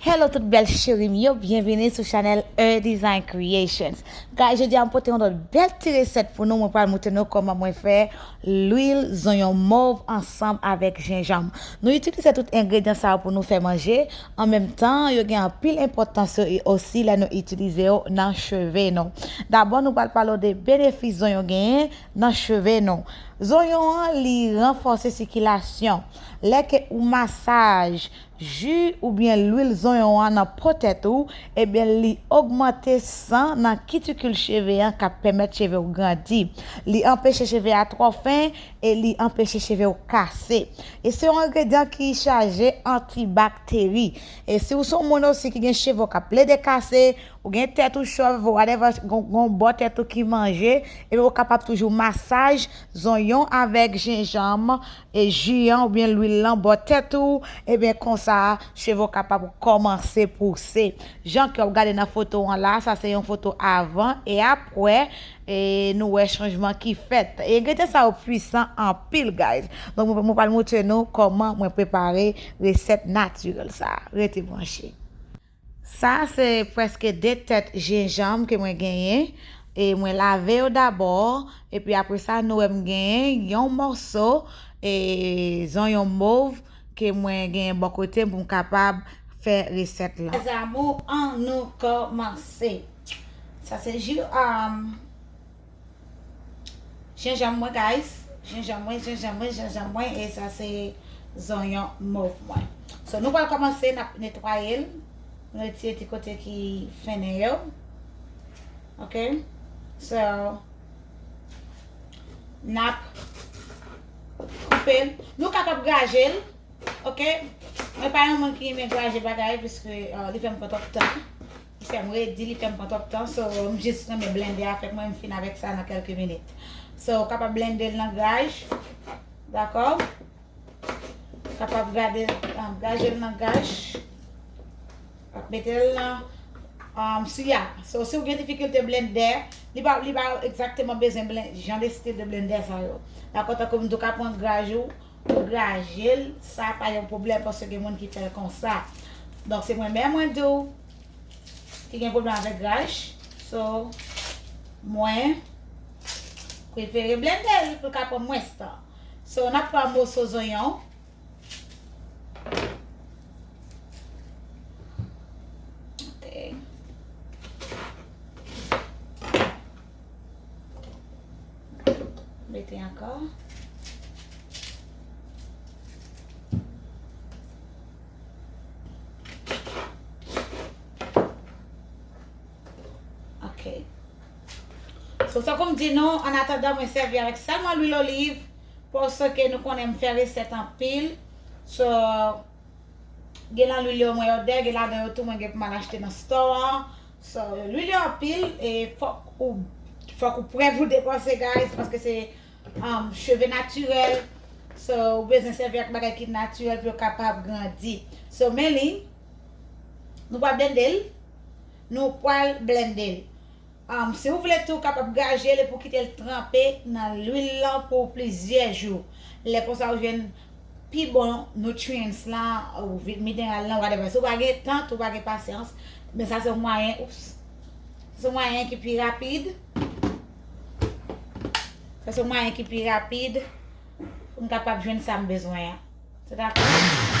Hello tout bèl cheri m yo byenvini sou chanèl Heure Design Creations Guys jodi a m pote yon lòt bèl ti resèt pou nou mwen pral moutre nou kòman mwen fè lwil zonyon mov ansanm avèk jenjanm nou itilize tout engredyan sa yo pou nou fè manje an menm tan yo gen anpil enpòtans yo e osi lè nou itilize yo nan cheve nou dabò nou pral pale w de benefis zonyon genyen nan cheve nou zonyon an li ranfòse sikilasyon lè ke ou masaj Ju oubyen lwil zonyon an nan po tèt ou, ebyen li ogmante san nan kitikil cheve an kap pèmèt cheve w grandi. Li anpeche cheve a twò fen e li anpeche cheve w kase. E se yon engredyan ki chaje antibakteri. E si w son moun osi ki gen cheve w kap plede kase, ou gen tèt ou chòv, whatever, gon bò tèt ou ki manje, ebyen ou kapab toujou masaj zonyon avèk jenjanm e ju an oubyen lwil lan bò tèt ou ebyen konsa cheve w kapab kòmanse pouse jan ke wap gade nan foto an la sa se yon foto avan e apwè e nou wè chanjman ki fèt e engredyan sa yo pwisan anpil guys donk mwen pral moutre nou kòman mwen prepare resèt natirèl sa rete branche. Sa a se prèske 2 tèt jenjanm ke mwen genyen, e mwen lave yo dabò, epi apre sa nou wè m genyen yon mòso e zonyon mov ke mwen genyen bò kote m pou m kapab fè resèt lan. Mes amours an nou kòmanse. Sa se ji. Jenjanm mwen guys, jenjanm mwen, jenjanm mwen, jenjanm mwen e sa se zonyon mov mwen. So nou pral komanse nap netwaye l, nou retire ti kote ki fennen yo. Ok, so nap koupe l, nou kapab graje l, ok, mwen pa yon moun ki renmen graje bagay, piske li fè m pran twòp tan. Li fèm redi, li fèm pran twòp tan so m jis renmen blende a fèt mwen m fin avèk sa nan kèlke minit. So ou kapab blendel nan gaj. Dakò? Ou kapab gade nan gajel nan gaj. Wap metel nan um, sou ya. So si ou gen difikilte blende, li pa li pa egzakteman bezwen jan de stil de blende sa yo. Dakò tankou m di ou ka pran gaj ou Ou grajel sa pa yon pwoblèm paske gen moun ki fèl konsa. Donk se mwen menm mwen diw ki gen pwoblèm avèk graj. So mwen prefere blendel poul ka pran mwens tan. So nap pran moso zonyon. Mete ankò. Ok. So sa koum di nou, an atadan mwen sèvi avèk sèlman lwil oliv. Pò sa ke nou konnen m fè resèt anpil. So, gen nan lwil yo mwen odè, gen ladan yo tou mwen gen pou m al achte nan store. So lwil yo anpil e fok ou fok ou prè pou depanse guys paske se um cheve natirèl so ou bezwen sèvi ak bagay ki natirèl pou yo kapab grandi. So men li nou pa blende l nou pwal blende l um si ou vle tou kapab gaje l epi ou kite l tranpe nan lwil lan pou plizyè jou lè konsa ou jwenn pi bon nutrients la ou mineral lan whatever si ou pa gen tan tou ou pa gen pasyans men sa se yon mwayen oups se yon mwayen ki pi rapid sa se yon mwayen ki pi rapid pou m kapab jwenn sa m bezwen an se ta kou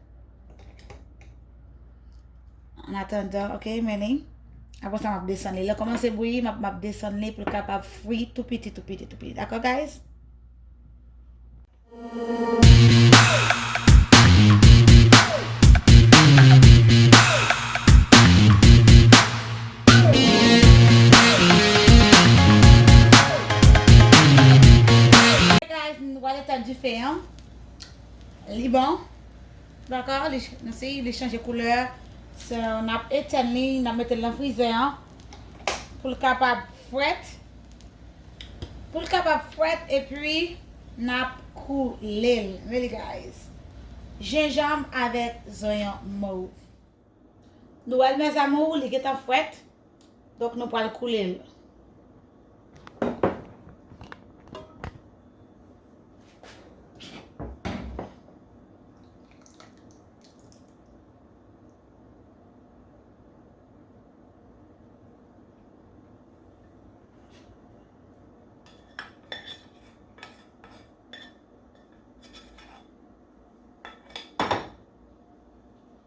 An atandan, ok, men li. Apo sa map desan li. Le koman se bouyi, map desan li pou kap ap fwi tou piti, tou piti, tou piti. Dako, guys? Li bon. Dako li nou si li chanje koulè so nap etèn li nap metel nan frizè an poul kapab frèt poul kapab frèt epi nap koulel really guys jenjanm avèk zonyon mov. Nou wèl mes amours li gentan frèt donk nou pral koulel.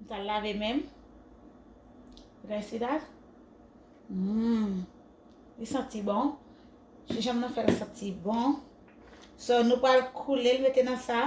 M pral lave menm. You guys see that? Mmm. Li santi bon. Chou jan m nan fè l santi bon. So nou pral koule l mete nan sa.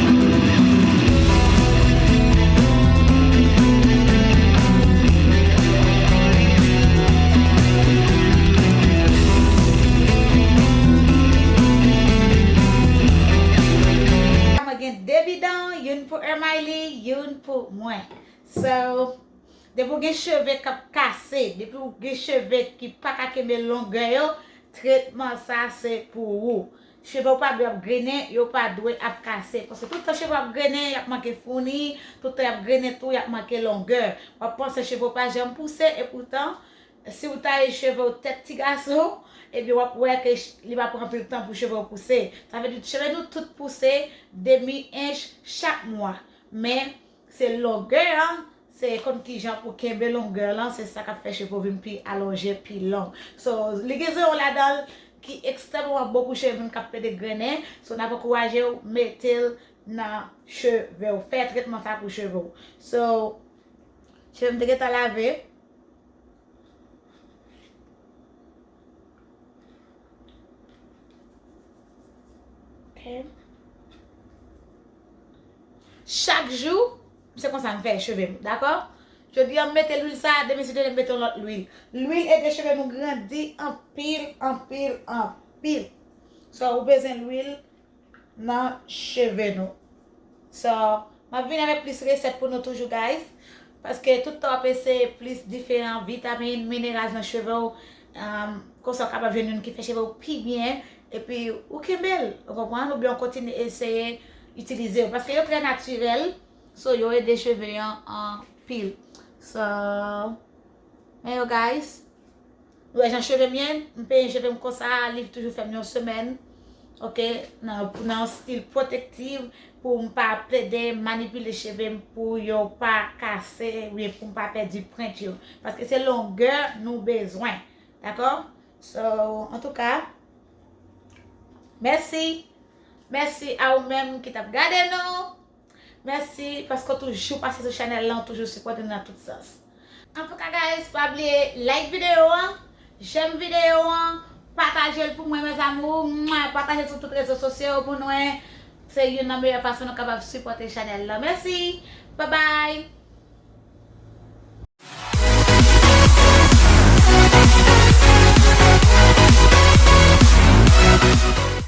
Depi w gen cheve k ap kase, depi w gen cheve ki pa ka kenbe longè yo, tretman sa se pou ou. Cheve yo pa dwe ap grennen, yo pa dwe ap kase. Paske tout tan cheve ap grennen, y ap manke founi, tout tan y ap grennen tou, y ap manke longè. W ap panse cheve w pa janm pouse, epoutan, si w taye cheve w tèt ti gason, ebyen w ap wè ke li pa pran anpil tan pou cheve w pouse. Sa vle di cheve nou tout pouse demi ench chak mwa. Men, Se longè an, se konn kijan pou kenbe longè lan, se sa kap fè cheve ou vin pi alonje, pi long. So, li gen zewo ladan l ki ekstrèmman bon pou cheve moun kap plen degrennen, so nap ankouraje ou mete l nan cheve ou, fè tretman sa pou cheve ou. So, cheve m te gentan lave. Ok. Chak jou se konsa m fè cheve m dakò Jodi an m mete lwil sa demen si demen m mete yon lòt lwil Lwil ede cheve nou grandi anpil anpil anpil So ou bezwen lwil nan cheve nou So m ap vini avèk plis resèt pou nou toujou guys. Paske tout tan w ap eseye plis diferan vitamin, mineral nan cheve w, konsa w kapab jwenn youn ki fè cheve w pi byen, epi ou kenbe l, ou konprann, oubyen ou kontinye eseye itilize yo. Paske yo trè natirèl, so yo ede cheve an anpil. So, men yo guys. Ou wè jan chevem ye m penyen chevem konsa li toujou fèm yon semèn ok nan stil protective poum pa plede manipile chevem pou yo pa kase oubyen poum pa pèdi prent yo paske se longè nou bezwen dakò so antouka mèsi mèsi a ou menm ki tap gade nou. Mèsi paske w toujou pase sou chanèl lan, w toujou sipòte nou nan tout sans. Antouka guys pa bliye like video an, j'aime video an, pataje l pou mwen mes amours, pataje l sou tout rezo sosyo yo pou nwen, se youn nan meyè fason nou kapab sipòte chanèl lan. Mèsi! Bye bye!